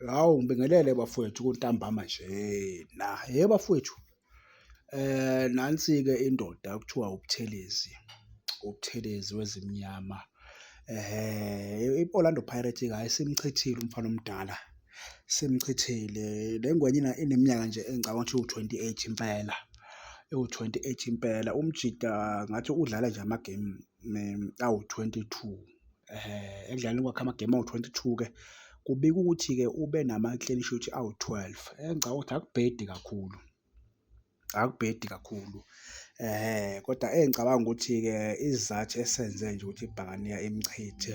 Hawu ngibingelele bafowethu kuntambama nje na he bafowethu eh nansi-ke indoda kuthiwa uButhelezi uButhelezi wezimnyama eh i-Orlando Pirates ke ayisimchithile umfana omdala simchithile le ngwenye ineminyaka nje engicabanga ukuthi u-28 impela ewu-28 impela umjita ngathi udlala nje amagemu awu-22. ekudlaleni kwakhe amagemu awu-twenty two-ke kubikwa ukuthi-ke ube nama-clean sheet awu-twelve. Engicabanga ukuthi akubhedi kakhulu, akubhedi kakhulu kodwa engicabanga ukuthi-ke isizathu esenze nje ukuthi ibhakaniya imchithe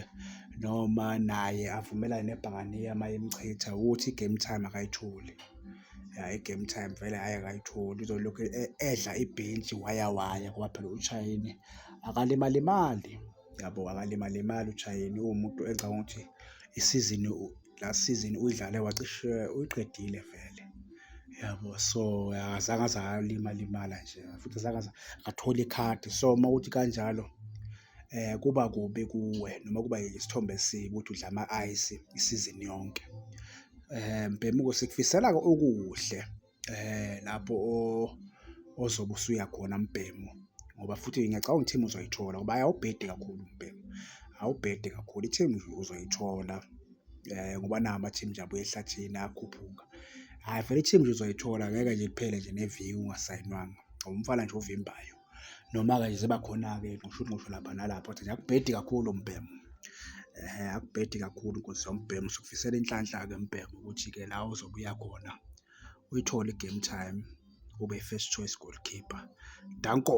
noma naye avumelane nebhakaniya uma imchitha ukuthi i-game time akayitholi. Ya i-game time vele hhayi akayitholi uzolokhu edla ibhentshi waya waya ngoba phela ushayile akalimalimali. yabo akalimalimali uJayeni uwumuntu engicabanga ukuthi isizini la sizini uyidlale wacishe uyiqedile vele yabo so akazange aze alimalimala nje futhi azange aze athole ikhadi so uma kuthi kanjalo eh kuba kubi kuwe noma kuba isithombe esibi ukuthi udla ama-ice isizini yonke um bhemuko sikufisela-ke okuhle eh lapho ozobe usuya khona mbhemu ngoba futhi ngiyacabanga ukuthi ithemu uzoyithola ngoba awubhede kakhulu umbhemu awubhede kakhulu ithemu uzoyithola eh ngoba nawo ama-team nje abuye ehlathini akhuphuka hhayi vele i-team nje uzoyithola ngeke nje kuphele nje neviki ungasayinwanga ngoba umfana nje ovimbayo. Noma-ke nje ziba khona-ke ngisho ukuthi ngisho lapha nalapha kodwa nje akubhedi kakhulu umbhemu. Akubhedi kakhulu nkosi yami umbhemu, sikufisela inhlanhla-ke mbhemu ukuthi-ke la ozobe uya khona uyithole i-game time ube first choice goalkeeper. Danko.